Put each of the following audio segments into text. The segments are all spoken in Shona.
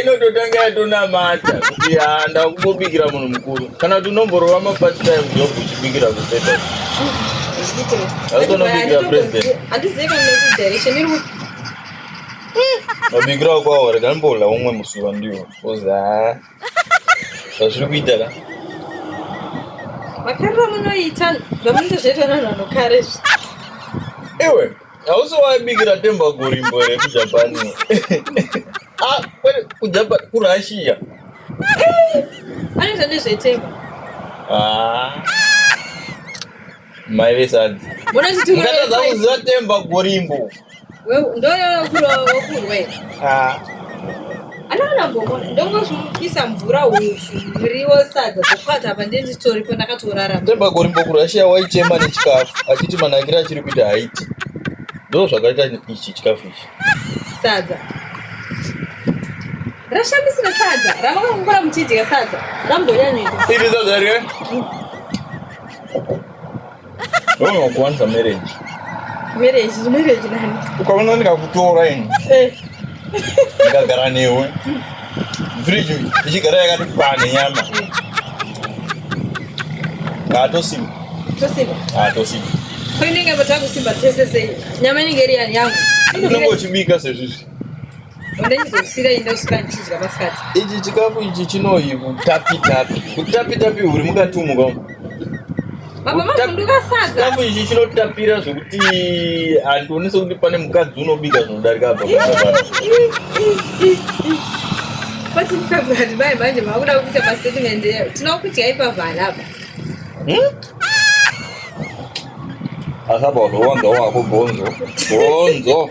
inototanga yatonamata kuti haa ndakumbobikira munhu mukuru kana kuti unomborova mapart time job uchibikira kuseta autonobikira president mabikira kwawo rekambola umwe musiwa ndiwo bcause haa zvazviri kuita ka makariro munoita zvamunenge zvaitwa nanhu anokare iwe hausi waibikira temba gorimbo here kujapani ah, kujapa kurussia anoita nezvetemba ah. mai vesadzi mukatadza kuziva temba gorimbo ndoyokurwa wokurwe ah. Anoona gomo ndongozvibisa mvura hupfu muriwo sadza zvokwata apa ndenditoripo ndakatorarama. Tembagori mbokurashiya waichema nechikafu achiti manakiro achiri kuita haiti. Ndoo zvakaita ichi chikafu ichi. Sadza. Rashamisira sadza ramakakungura muchidya sadza rambonyanyika. Iri sadza rye. Wewe kuanza marriage. Marriage, marriage nani? Ukaona nikakutora ini. Eh. Nikagara newe. Fridge ichigara yakati pane nyama. Ngaatosimba. Tosimba. Ah, tosimba. Kwa nini inge mtaka kusimba tese sasa? Nyama inge iri yangu. Unenge uchibika sezvizvi. ichi chikafu ichi chinohi kutapitapi kutapitapi huri mukatumuka chikafu ichi chinotapira zvekuti handioni sekuti pane mukadzi unobika zvinodarika apa mai manje makuda kuita mastatement eyo tinokudya ipavana apa hmm? asabauno wanga wako gonzo gonzo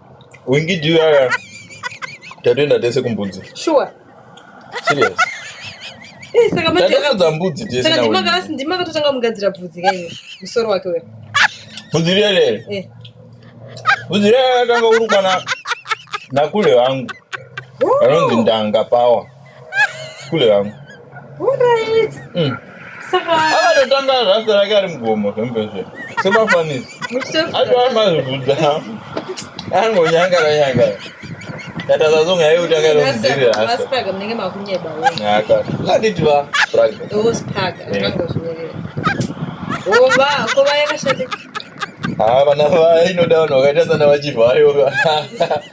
Wingi do yaya. Tatoenda tese kumbudzi. Sure. Serious. Eh, saka manje takaudza mbudzi tese. Saka ndima kana ndima katotanga mugadzira bvudzi kayo. Musoro wake wewe. Bvudzi rere. Eh. Bvudzi rere kanga urukwa na nakule wangu. Anonzi ndanga power. kule yangu mm. akatotanga rasta rake ari mugomo zvembezve semafanisi aitoamazvibvudza angonyangara nyangara tatazazonga yekuti akaromudzirira akanditi va haa vana vainoda vanhu vakaita sana vachivhayo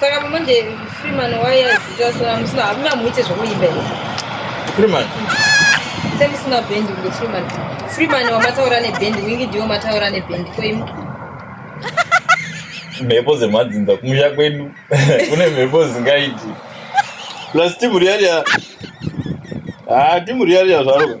saka pamanje freeman waiyazitasora musina hamuna muite zvekuimba here freeman semusina bhendi kunge freeman freeman wamataura nebhendi wingi ndiwo mataura nebhendi koimu mhepo dzemadzinza kumusha kwedu kune mhepo dzingaiti plus timu riyariya haa ah, timu riyariya zvaro